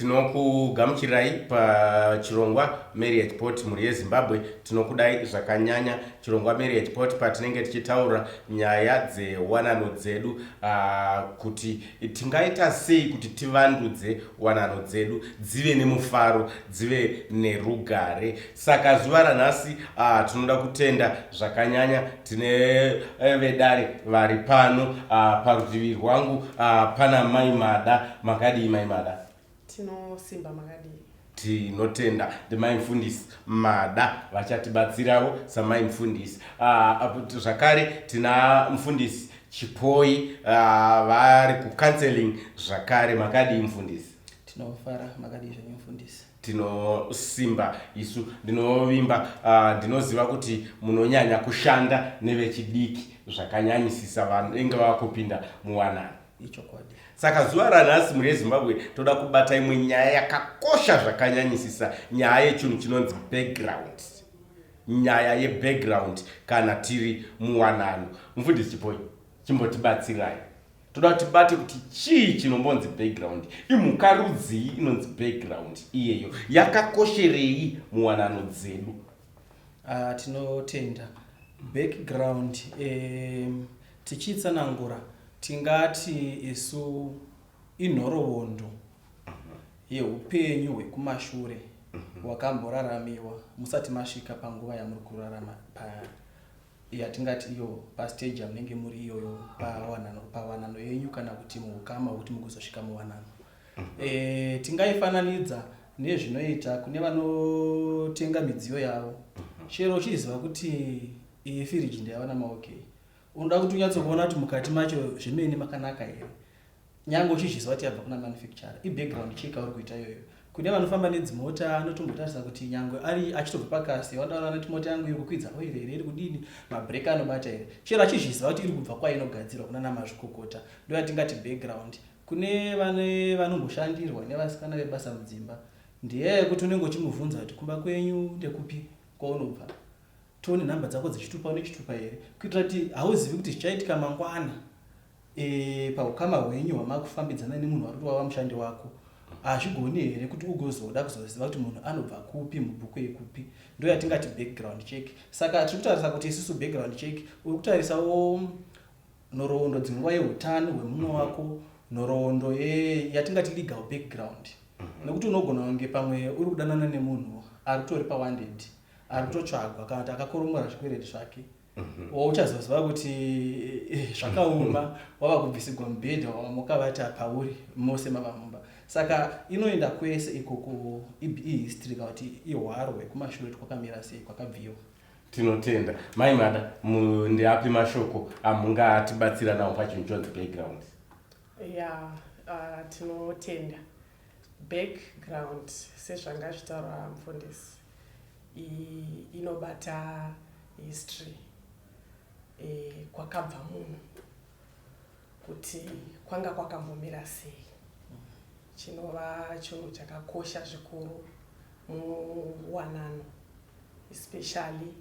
tinokugamuchirirai pachirongwa marriage port mhuri yezimbabwe tinokudai zvakanyanya chirongwa marriage port patinenge tichitaura nyaya dzewanano dzedu uh, kuti tingaita sei kuti tivandudze wanano dzedu dzive nemufaro dzive nerugare Saka zuva ranhasi uh, tinoda kutenda zvakanyanya tine eh, vedare vari pano uh, parutivi rwangu uh, pana mai mada makadii mai mada tinosimba makadii tinotenda ndimai mfundisi mada vachatibatsirawo samai mfundisi uh, zvakare tina mfundisi chipoi uh, vari kucounseling zvakare makadii mfundisi tinofara makadii zvenyu mfundisi Tinosimba isu ndinovimba uh, ndinoziva kuti munonyanya kushanda nevechidiki zvakanyanyisisa vanenge vava kupinda muwanano ichokwadi saka zuva ranhasi mhuri yezimbabwe toda kubata imwe nyaya yakakosha zvakanyanyisisa nyaya yechinhu chinonzi background nyaya yebackground kana tiri muwanano mufundisi chipoi chimbotibatsirai toda kuti tibate kuti chii chinombonzi background imhuka rudzii inonzi background iyeyo yakakosherei muwanano dzedu uh, tinotenda background um, tichitsanangura tingati isu inhoroondo yeupenyu hwekumashure mhm. hwakamboraramiwa musati masvika panguva yamuri kurarama paya yatingati iyo pasteji yamunenge muri iyoyo pawanano yenyu kana kuti muukama hwekuti mugozosvika muwanano mhm. eh, tingaifananidza nezvinoita kune vanotenga midziyo yavo mhm. chero uchiziva kuti iyi firiji ndayavana maokei unoda kuti unyatsokuona kuti mukati macho zvemene makanaka here nyange uchizviziva kuti yabva kuna manufacturer ibackground check auri kuita iyoyo kune vanofamba nedzimota anotombotarisa kuti nyangwe ari achitobva pakasi vandaona noti mota yangu iri kukwidza oire here iri kudini mabrek anobata here chero achizviziva kuti iri kubva kwainogadzirwa kuna namazvikokota ndo yatingati background kune vane vanomboshandirwa nevasikana vebasa mudzimba ndiye yekuti unenge uchimubvunza kuti kumba kwenyu ndekupi kwaunobva tione nhamba dzako dzichitupa unechitupa here kuitira kuti hauzivi kuti zvichaitika mangwana e, paukama hwenyu hwamakufambidzana nemunhu wari kuti wava mushandi wako hazvigoni here kuti ugozoda kuzoziva kuti munhu anobva kupi mubhuku yekupi ndo yatingati background check saka tiri kutarisa kuti isisu background check uri kutarisawo nhoroondo dzinguva yeutano hwemumwe wako nhoroondo yatingati legal background mhm. nekuti unogona kunge pamwe uri kudanana nemunhu ari kutori pawandendi ari kutotsvagwa kana kuti akakoromora zvikwereti zvake mhm. wauchazoziva kuti eh, zvakaoma wava kubvisigwa mubhedha wamoka vata pauri mose mava mumba saka inoenda kwese ikoko ihistory kana kuti ihwaro hwekumashure kuti kwakamira sei kwakabviwa tinotenda mai mada ndiapi mashoko amungatibatsira nawo pachinhu chonzi playground ya ah, tinotenda Back ground sezvanga zvitaurwa mufundisi inobata history e, kwakabva munhu kuti kwanga kwakambomira sei chinova chinhu chakakosha zvikuru muwanano especially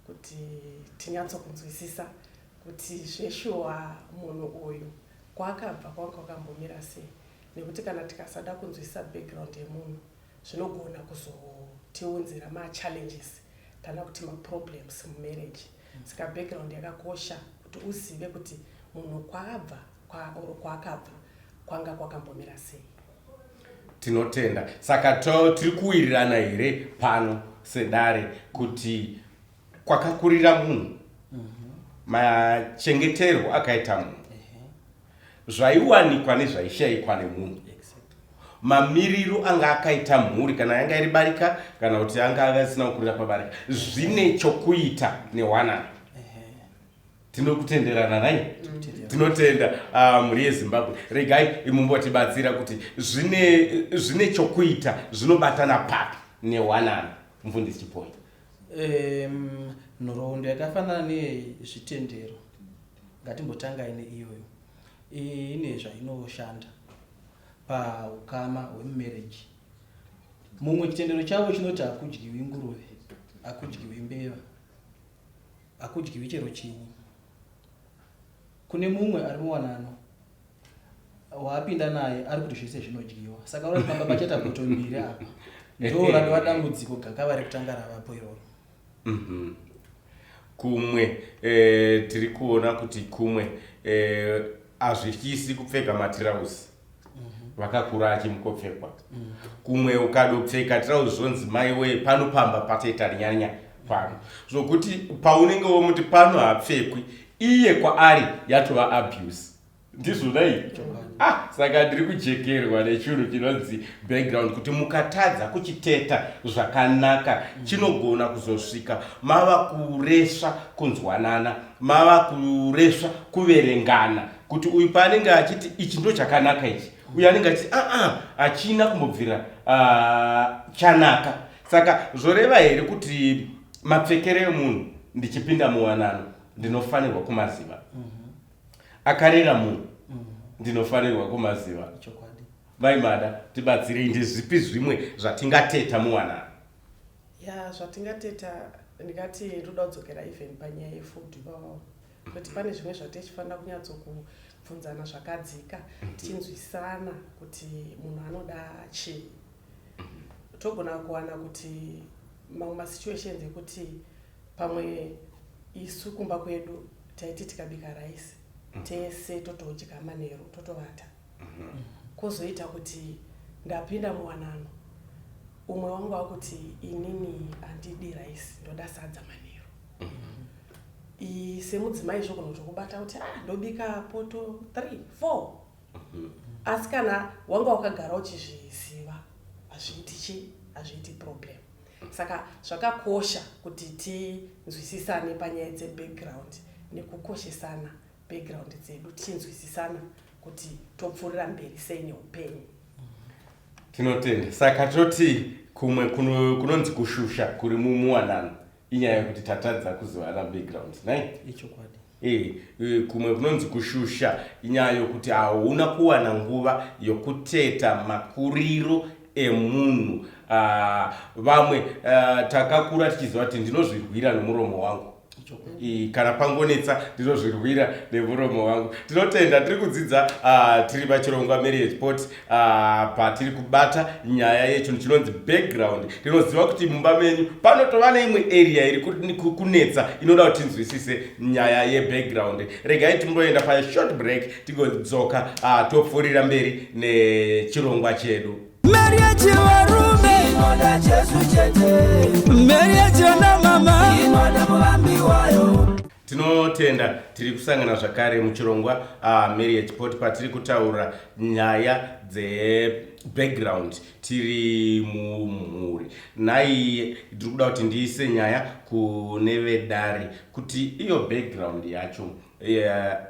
kuti tinyatsokunzwisisa kuti zveshuwa munhu uyu kwaakabva kwanga kwakambomira sei nekuti kana tikasada kunzwisisa background yemunhu zvinogona kuzotiunzira machallenges kana kuti maproblems mumarriage saka background yakakosha kuti uzive kuti munhu kwaabva kwa or kwaakabva kwanga kwakambomira sei tinotenda saka tiri kuwirirana here pano sedare kuti kwakakurira munhu mhm. machengeterwo akaita munhu zvaiwanikwa nezvaishaikwa nemunhu mamiriro anga akaita mhuri kana yanga iri barika kana kuti anga asina kukurira pabarika zvine chokuita newanana tinokutenderana nai tinotenda ah, mhuri yezimbabwe regai imumbotibatsira kuti zvine chokuita zvinobatana papi newanano mufundisi chipoya nhoroondo yakafanana nezvitendero ngatimbotangai neiyoyo ine zvainoshanda paukama hwemumereji mumwe chitendero chavo chinoti hakudyiwi nguruve hakudyiwi mbeva Hakudyiwi chero chinyi. Kune mumwe ari muwanano waapinda naye ari kuti zvese zvinodyiwa. Saka vari kufamba pachata boto mbiri apa. Ndoo ratova dambudziko gakava rekutanga ravapo iroro. Mhm. Kumwe eh, tiri kuona kuti kumwe eh, hazvityisi kupfeka matirauzi. vakakura achimukopfekwa kumwe ukadopfeka trauzi zvonzi mai wee pano pamba patoita rinyanya pano zvokuti paunenge womuti pano hapfekwi iye kwaari yatova abuse ndizvona iyi ah saka ndiri kujekerwa nechunhu chinonzi background kuti mukatadza kuchiteta zvakanaka chinogona kuzosvika mava kuresva kunzwanana mava kuresva kuverengana kuti uyu paanenge achiti ichi ndo chakanaka ichi uyu anenge achiti aa hachina kumbobvira chanaka saka zvoreva here kuti mapfekere emunhu ndichipinda muwanano ndinofanirwa kumaziva mhm. akarera munhu mhm. ndinofanirwa kumaziva vaimada tibatsirei ndezvipi zvimwe zvatingateta muwanano ya zvatingateta ndingati ndoda kudzokera even panyaya yefood ivavavo kuti pane zvimwe zvatichifanira kunyatsokubvunzana zvakadzika mhm. tichinzwisana kuti munhu anoda chii mhm. togona kuwana kuti mamwe masituations ekuti pamwe isu kumba kwedu taiti tikabika raisi mhm. tese totodya manheru totovata kwozoita kuti ndapinda muwanano umwe wangu wakuti inini handidi raisi ndoda sadza manheru semudzimai zvogona kuti kubata kuti ah, ndobika poto 3 4 mhm. asi kana wanga wakagara uchizviziva hazviiti chi hazviiti problem saka zvakakosha kuti tinzwisisane panyaya dzebackground nekukoshesana background dzedu tichinzwisisana kuti topfuurira mberi sei neupenyu tinotenda saka toti kumwe kunonzi kushusha kuri mumuwanano inyaya yekuti tatadza kuzivana background nai ichokwadi eh, eh, kumwe kunonzi kushusha inyaya yokuti hauna kuwana nguva yokuteta makuriro emunhu ah, vamwe ah, takakura tichiziva kuti ndinozvirwira nomuromo wangu kana pangonetsa ndinozvirwira nemuromo wangu tinotenda tiri kudzidza ah, tiri pachirongwa marriage pot Ah, patiri kubata nyaya yecho chinonzi background tinoziva kuti mumba menyu panotova neimwe area iri kunetsa inoda kuti tinzwisise nyaya yebackground regai timboenda pashort break tigodzoka ah, topfuurira mberi nechirongwa chedu mari yechivarume inoda jesu chete mari yechionamama inoda muvambi wayo Tinotenda tiri kusangana zvakare muchirongwa uh, marriage pot patiri kutaura nyaya dzebackground tiri mumhuri naiye ndiri kuda kuti ndiise nyaya kune vedare kuti iyo background yacho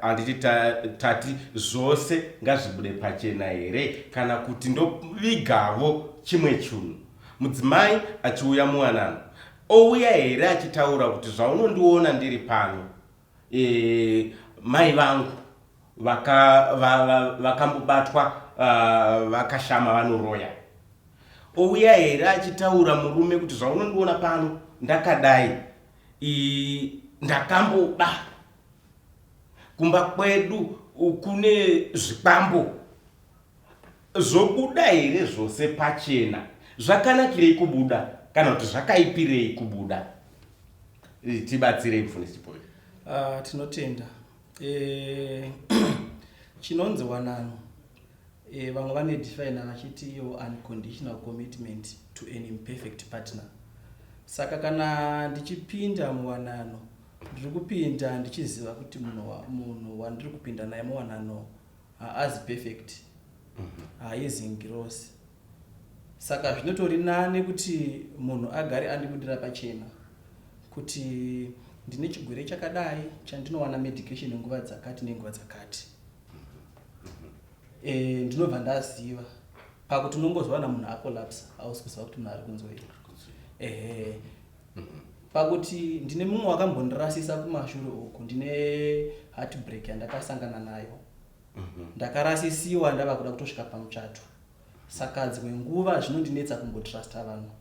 handiti yeah, tati zvose ngazvibude pachena here kana kuti ndovigavo chimwe chunhu mudzimai achiuya muwanano Ouya here achitaura kuti zvaunondiona ndiri pano e, mai vangu vakambobatwa va, va, uh, vakashama vanoroya. Ouya here achitaura murume kuti zvaunondiona pano ndakadai ndakamboba kumba kwedu kune zvikwambo Zvobuda here zvose pachena? Zvakanakirei kubuda kana kuti zvakaipirei kubuda? Tibatsirei mufundisi Chipoyo. Uh, tinotenda e, chinonzi wanano e, vamwe vane define vachiti iyo unconditional commitment to an imperfect partner saka kana ndichipinda muwanano ndiri kupinda ndichiziva kuti munhu wandiri kupinda naye muwanano haazi perfect haizi ngirosi saka zvinotori nane kuti munhu agare andibudira pachena kuti ndine chigwere chakadai chandinowana medication nguva dzakati nenguva dzakati e, ndinobva ndaziva pakuti unongozowana munhu akolapsa hausi kuziva kuti munhu ari kunzwei ehe Pakuti ndine mumwe wakambondirasisa kumashure uku ndine heartbreak yandakasangana nayo. Ndakarasisiwa ndava kuda kutosvika pamuchato. Saka dzimwe nguva zvinondinetsa kumbotrusta vanhu.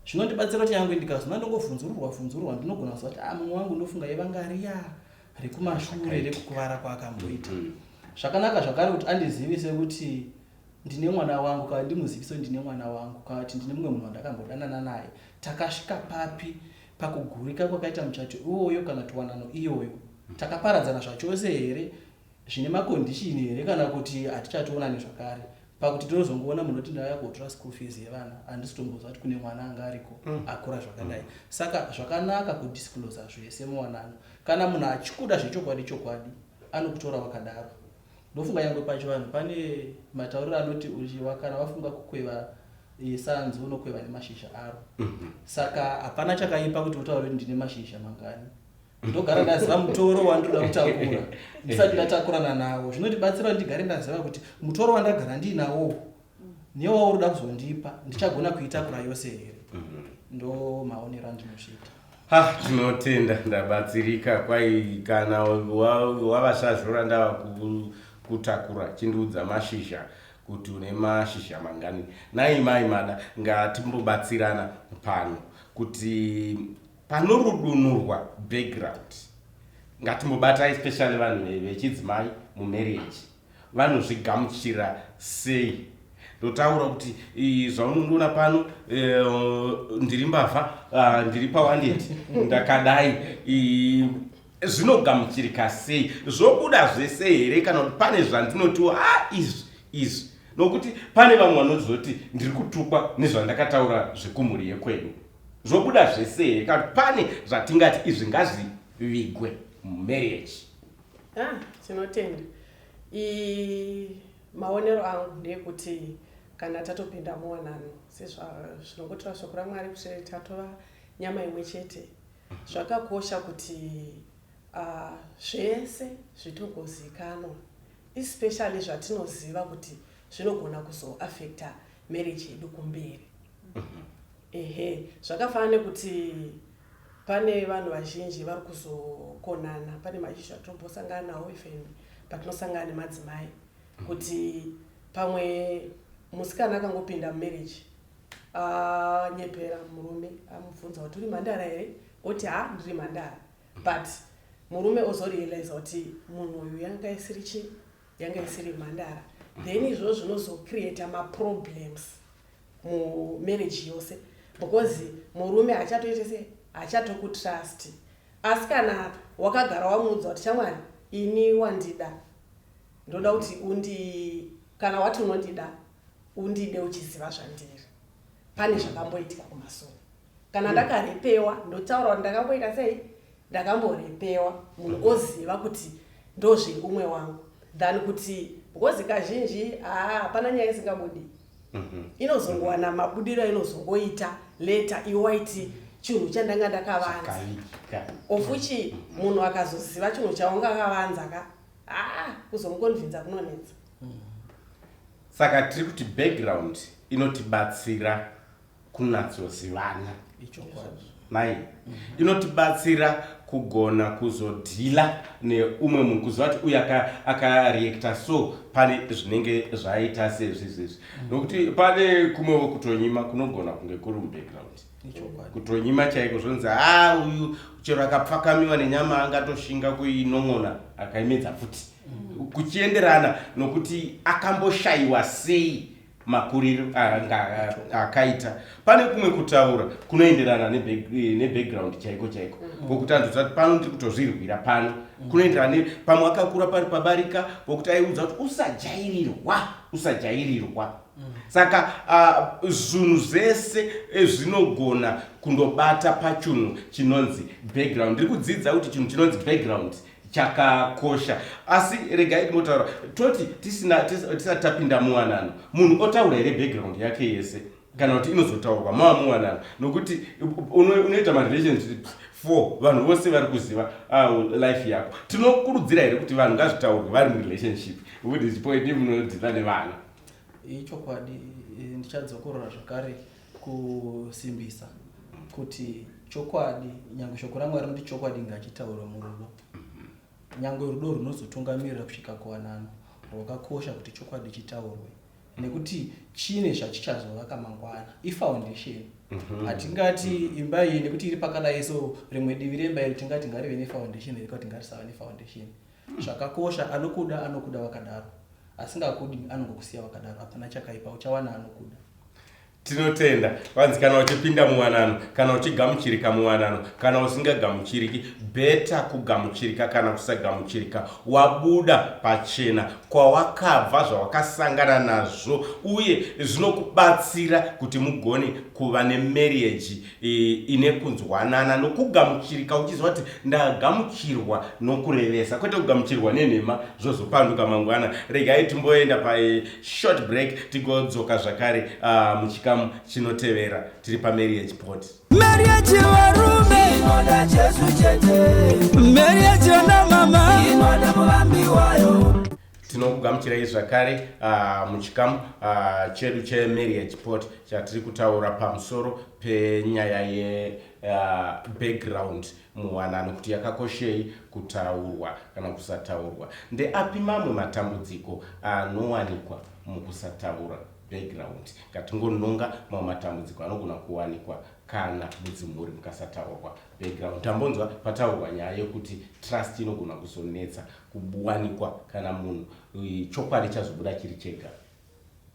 Zvinondibatsira kuti nyangwe ndikazona ndongovhunzururwa vhunzururwa ndinogona kuziva kuti ah mumwe wangu ndofunga yevanga riya rekumashure rekukuvara kwaakamboita. Zvakanaka zvakare kuti andizivise kuti ndine mwana wangu kana ndimuziviso ndine mwana wangu kana kuti ndine mumwe munhu wandakambodanana naye takasvika papi pakugurika kwakaita muchato iwoyo kana tiwanano iyoyo takaparadzana zvachose here zvine makondishini here kana kuti hatichationa nezvakare pakuti tinozongoona munhu oti ndauya kuotora school fees yevana handisi kutomboziva kuti kune mwana anga ariko mm. akura zvakadai mm. saka zvakanaka kudisclosa zvese muwanano kana munhu achikuda zvechokwadi chokwadi anokutora wakadaro Ndofunga nyangwe pachivanhu pane matauriro anoti uchiwa kana wafunga kukweva eh, sanzi unokweva nemashizha aro mhm. saka hapana chakaipa kuti utaure kuti ndine mashizha mangani ndogara ndaziva mutoro wandinoda kutakura ndisati ndatakurana nawo zvinondibatsira kuti ndigare ndaziva kuti mutoro wandagara ndiinawowo newauri uda kuzondipa ndichagona kuitakura yose here mhm. ndo maonero andinosvita ha tinotenda ndabatsirika kwai kana wavasazvora ndava kutakura chindiudza mashizha kuti une mashizha mangani nai mai mada ngatimbobatsirana pano kuti panorudunurwa background ngatimbobatai especially vanhu vechidzimai mumarriage vanozvigamuchira sei ndotaura kuti zvaunondiona pano eh, ndiri mbavha ah, ndiri pawaneti ndakadai zvinogamuchirika sei zvobuda zvese here kana kuti pane zvandinotiwo a izvi izvi nokuti pane vamwe vanozoti ndiri kutukwa nezvandakataura zvekumhuri yekwedu zvobuda zvese here kana kuti pane zvatingati izvi ngazvivigwe mumarriage Ah, tinotenda i maonero angu ndeekuti kana tatopinda muwanano sezvazvinongotaura shoko ramwari kuti tatova nyama imwe chete zvakakosha kuti uh, zvese zvitongozikanwa especially zvatinoziva kuti zvinogona kuzoafecta marriage yedu kumberi mhm. ehe zvakafanana nekuti Pane vanhu vazhinji vari kuzokonana, pane maishu atombosangana nawo even patinosangana nemadzimai kuti pamwe musikana akangopinda mumarriage anyepera ah, murume amubvunza kuti uri mhandara here oti ha ndiri mhandara but murume ozorealiza kuti munhu uyu yanga isiri chi yanga isiri mhandara then izvozvo zvinozocreata maproblems mu marriage yose because murume hachatoite se hachatokutrust asi kana wakagara wamuudza kuti shamwari ini wandida ndoda kuti undi kana wati unondida undide uchiziva zvandiri pane zvakamboitika kumasoro kana ndakarepewa ndotaura kuti ndakamboita sei ndakamborepewa munhu oziva kuti ndozveumwe wangu than kuti because kazhinji haa hapana nyaya isingabudi Mhm. inozongowana mabudiro ainozongoita leta iwaiti chinhu chandanga ndakavanza Chakaika. of which munhu akazoziva chinhu chaunga akavanza ka haa kuzomukonvinza kunonetsa Saka tiri kuti background inotibatsira kunatsozivana mai inotibatsira kugona kuzodhila neumwe munhu kuziva kuti uyu akareacta so pane zvinenge zvaita sezvizvezvi mm. nokuti pane kumwevo kutonyima kunogona kunge kuri mubackground kutonyima chaiko zvonzi ha ah, uyu chero akapfakamiwa nenyama angatoshinga kuinon'ona akaimedza futi mm. kuchienderana nokuti akamboshayiwa sei makuriro akaita pane kumwe kutaura kunoenderana nebackground eh, chaiko chaiko mm-hmm. pokuti anzozva kuti pano ndiri kutozvirwira pano mm-hmm. kunoenderana pamwe akakura pari pabarika pokuti aiudza kuti usajairirwa usajairirwa mm-hmm. saka zvinhu zvese eh, zvinogona kundobata pachunhu chinonzi background ndiri kudzidza kuti chinhu chinonzi background chakakosha asi regai tinotaura toti tisina tisati tapinda muwanano munhu otaura here background yake yese kana kuti inozotaurwa mava muwanano nokuti unoita marelationships four vanhu vose vari kuziva ah, life yako tinokurudzira here kuti vanhu ngazvitaurwe vari murelationship kuti chipoidi munodhila nevana ichokwadi eh, ndichadzokorora zvakare kusimbisa kuti chokwadi nyange shoko ramwari rinoti chokwadi ngachitaurwa murudo mhm. nyange rudo runozotungamirira kusvika kuwanano rwakakosha kuti chokwadi chitaurwe nekuti chine zvachichazovaka mangwana ifoundation mhm. hatingati mm -hmm. imba iyi nekuti iri pakadai so rimwe divi remba iri tingati ngarive nefoundation iri kuti ngarisava nefoundation mm. zvakakosha anokuda anokuda vakadaro asingakudi anongokusiya vakadaro hapana chakaipa uchawana anokuda tinotenda vanzi kana uchipinda muwanano kana uchigamuchirika muwanano kana usingagamuchiriki beta kugamuchirika kana kusagamuchirika wabuda pachena kwawakabva zvawakasangana nazvo uye zvinokubatsira kuti mugone kuva nemeriaji ine kunzwanana nokugamuchirika uchiziva kuti ndagamuchirwa nokurevesa kwete kugamuchirwa nenhema zvozopanduka mangwana regai timboenda pashort eh, break tigodzoka zvakare ah, muchikamu chinotevera tiri pameri yechipoti meri yechivarume inoda jesu chete meri yechionamama inoda muvambi wayo tinokugamuchirai zvakare uh, muchikamu uh, chedu chemarriage port chatiri kutaura pamusoro penyaya yebackground ah, uh, muwanano kuti yakakoshei kutaurwa kana kusataurwa ndeapi mamwe matambudziko anowanikwa mukusataura background ngatingononga mamwe matambudziko anogona kuwanikwa kana mudzimhuri mukasataurwa Background, Tambonzwa pataurwa nyaya yekuti trust inogona kuzonetsa kuwanikwa kana munhu eh, chokwadi chazobuda chiri chega.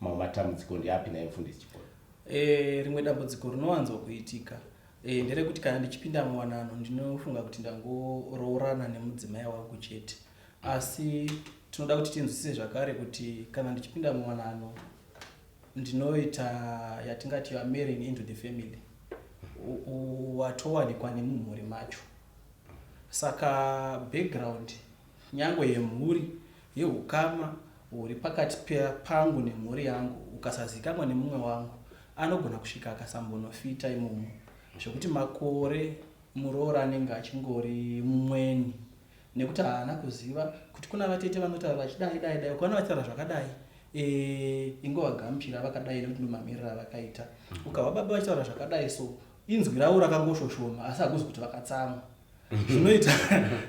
Mamwe matambudziko ndeapi naye mfundisi Chipona? E, rimwe dambudziko rinowanzo kuitika e, nderekuti kana ndichipinda muwanano ndinofunga kuti ndangoroorana nemudzimai wangu chete asi tinoda kuti tinzwisise zvakare kuti kana ndichipinda muwanano ndinoita yatingati you are marrying into the family watowanikwa nemumhuri macho saka background nyangwe yemhuri yeukama huri pakati pangu nemhuri yangu ukasazikamwa nemumwe wangu anogona kusvika akasambonofita imomo zvekuti makore muroora anenge achingori mumweni nekuti haana kuziva kuti kuna vatete vanotaura vachidai dai dai ukaona vachitaura zvakadai eh, ingovagamuchira vakadai nekuti ndomamirira avakaita mm. ukahwa baba vachitaura zvakadai so inzwi ravo rakangoshoshoma asi hakuzi kuti vakatsamwa mm-hmm. zvinoita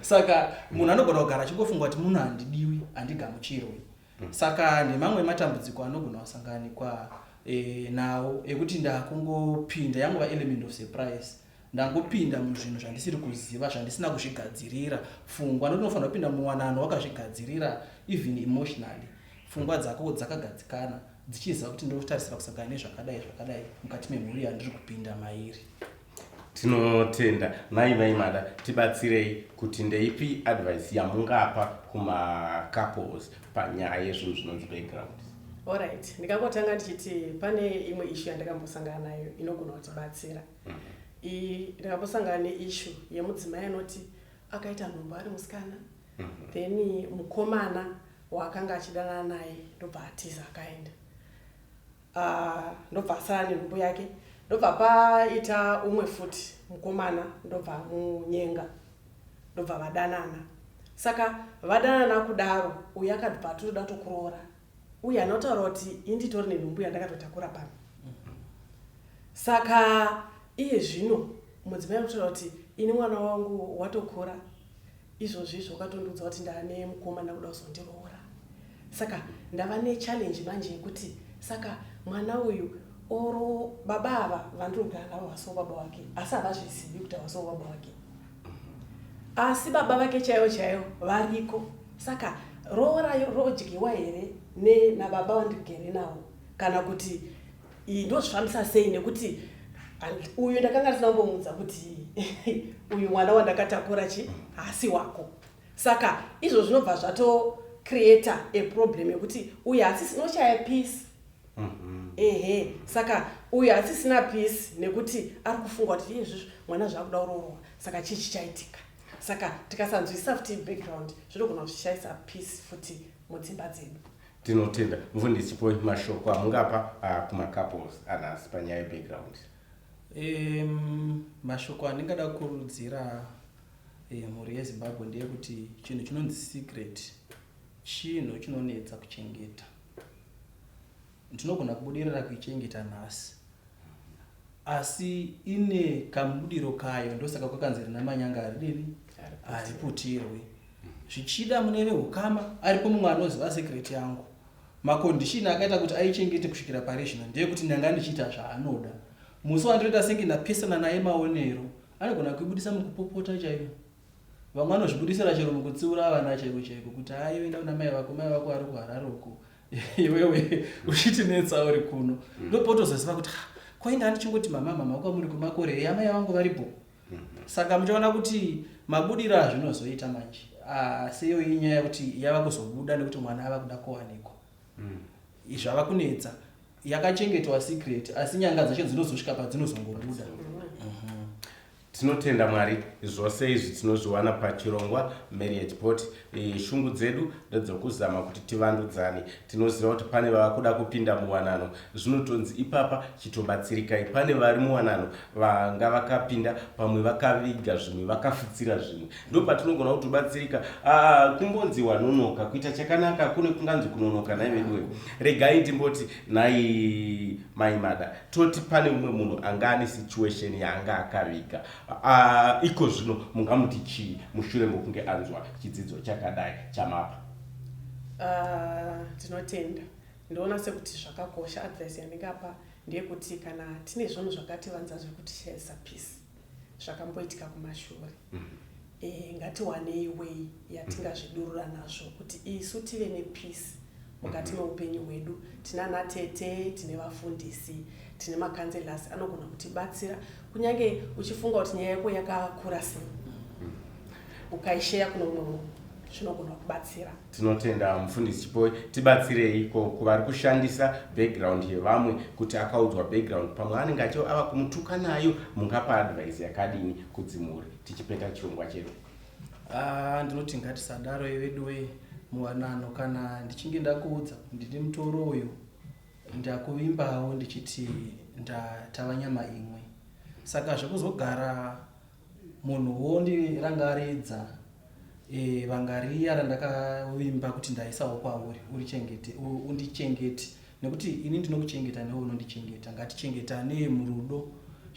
saka munhu anogona kugara achingofunga kuti munhu handidiwi handigamuchirwi mm. saka nemamwe matambudziko anogona kusanganikwa eh, nawo ekuti ndakungopinda yangova element of surprise Ndangopinda muzvinhu zvandisiri kuziva zvandisina kuzvigadzirira pfungwa nokuti unofanira kupinda muwanano wakazvigadzirira even emotionally pfungwa dzako dzakagadzikana dzichiziva kuti ndiri kutarisira kusangana nezvakadai zvakadai mukati memhuri yandiri kupinda mairi tinotenda mai vaimada tibatsirei kuti ndeipi advice yamungapa kumacouples panyaya yezvinhu zvinonzi background Alright, ndikangotanga ndichiti pane imwe issue yandakambosangana nayo inogona kutibatsira. I- ndakambosangana neishu yemudzimai anoti akaita nhumbu ari musikana then mukomana waakanga achidanana naye ndobva atiza akaenda Ah, ndobva asara nenhumbu yake ndobva paita umwe futi mukomana ndobva amunyenga ndobva vadanana saka vadanana kudaro uyu akabva atoda tokuroora uye anotaura kuti inditori nenhumbu yandakatotakura pano saka iye zvino mudzimai anotaura kuti ini mwana wangu watokura izvozvi izvo ukatondiudza kuti ndaane mukoma ndakuda kuzondiroora saka ndava nechallenge manje yekuti saka mwana uyu oro baba ava vandiri kugara navo vaso baba wake asi havazvizivi kuti avaso baba wake asi baba vake chaivo chaivo variko saka roora rodyiwa here nababa vandigere navo kana kuti iyi ndozvifambisa sei nekuti uyu ndakanga ndisina kumbomuudza kuti uyu mwana wandakatakura chi haasi wako saka izvo zvinobva zvatocreata a problem yekuti uyu haasisi noshaya peace Mhm. ehe saka uyu haasisina peace nekuti ari kufunga kuti iye izvizvi mwana zvaakuda kuroorwa saka chii chichaitika saka tikasanzwisisa futi background zvinogona kutishaisa peace futi mudzimba dzedu tinotenda mfundisi poi mashoko amungapa ah, kumacouples anhasi panyaya yebackground Em, mashoko andingada kukurudzira eh, mhuri yezimbabwe ndeyekuti chinhu chinonzi secret chinhu chinonetsa kuchengeta ndinogona kubudirira kuichengeta nhasi asi ine kamubudiro kayo ndosaka kwakanzi rina manyanga haridini hariputirwi zvichida mune veukama aripo mumwe anoziva sekreti yangu makondishini akaita kuti aichengete kusvikira pari zvino ndeyekuti ndanga ndichiita zvaanoda musi wandinoita senge ndapesana naye maonero anogona kuibudisa mukupopota chaiyo Vamwe vanozvibudisira chero mukutsiura vana chaiko chaiko kuti haa iwe enda kuna mai vako, mai vako vari kuHarare uko iwewe uchitinetsa uri kuno. Mm. Ndopotozoziva kuti ha kwainda andichingoti mama mama kwamuri kwemakore eya mai vangu vari bho. Mm. Saka muchaona kuti mabudiro azvinozoita manje asi ah, iyo inyaya yekuti yava kuzobuda nekuti mwana ava kuda kuwanikwa mm. zvava kunetsa yakachengetwa secret asi nyanga dzacho dzinozosvika padzinozongobuda. Mm. Tinotenda Mwari zvose izvi tinozviwana pachirongwa Marriage Pot. Shungu dzedu ndedzokuzama kuti tivandudzane. Tinoziva kuti pane vava kuda kupinda muwanano zvinotonzi ipapa chitobatsirikai. Pane vari muwanano vanga vakapinda pamwe vakaviga zvimwe vakafutsira zvimwe. Ndopatinogona kutobatsirika. Aa kumbonzi wanonoka kuita chakanaka kune kunganzi kunonoka nhai veduwe. Regai timboti nhai. Mai Mada, toti pane umwe munhu anga ane situation yaanga akaviga uh, iko zvino mungamuti chii mushure mokunge anzwa chidzidzo chakadai chamapa? Ah, ndinotenda uh, ndoona sekuti zvakakosha advice yandingapa ndeyekuti kana tine zvinhu zvakativanza zvekuti shaisa peace zvakamboitika kumashure mm. e, ngatiwanei way yatingazvidurura nazvo kuti isu tive nepeace mukati mm-hmm. meupenyu hwedu tinana tete tine vafundisi tine makanzelasi anogona kutibatsira kunyange uchifunga kuti nyaya yako yakakura sei mm. ukaisheya kuno umwe munhu zvinogona kubatsira Tinotenda mufundisi Chipoe, tibatsirei ko kuvari kushandisa background yevamwe kuti akaudzwa background pamwe anenge acho ava kumutuka nayo mungapa advice yakadini kudzimhuri tichipeta chirongwa chedu. Ah, ndinoti ngatisadaro veduwe muwanano kana ndichinge ndakuudza ndiri mutoro uyu ndakuvimbawo ndichiti ndatava nyama imwe saka zvekuzogara Munhu wondirangaridza eh, vanga riya randakavimba kuti ndaisawo kwauri urichengete u- undichengete nekuti ini ndinokuchengeta newe unondichengeta ngatichengetanei murudo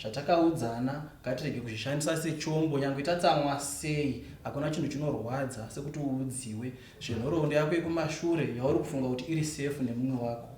zvatakaudzana ngatirege kuzvishandisa sechombo nyangwe tatsamwa sei hakuna chinhu chinorwadza sekuti uudziwe zvenhoroondo yako yekumashure yauri kufunga kuti iri safe nemumwe wako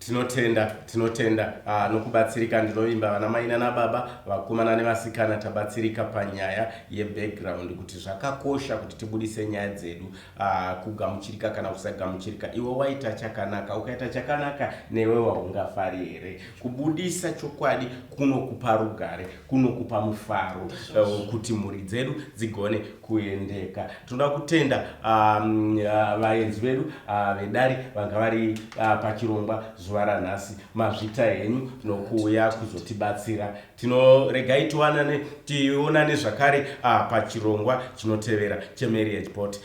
Tinotenda, tinotenda ah, nokubatsirika. Ndinovimba vana mai nana baba, vakomana nevasikana tabatsirika panyaya ye background kuti zvakakosha kuti tibudise nyaya dzedu ah, kugamuchirika kana kusagamuchirika. Iwe waita chakanaka, ukaita chakanaka newe waungafari here? Kubudisa chokwadi kunokupa rugare. kunokupa mufaro uh, kuti mhuri dzedu dzigone kuendeka tinoda kutenda um, uh, vaenzi um, uh, vedu uh, vedare vanga vari uh, pachirongwa zuva ranhasi mazvita henyu nokuuya kuzotibatsira tinoregai tionane tionane zvakare uh, pachirongwa chinotevera chemarriage bot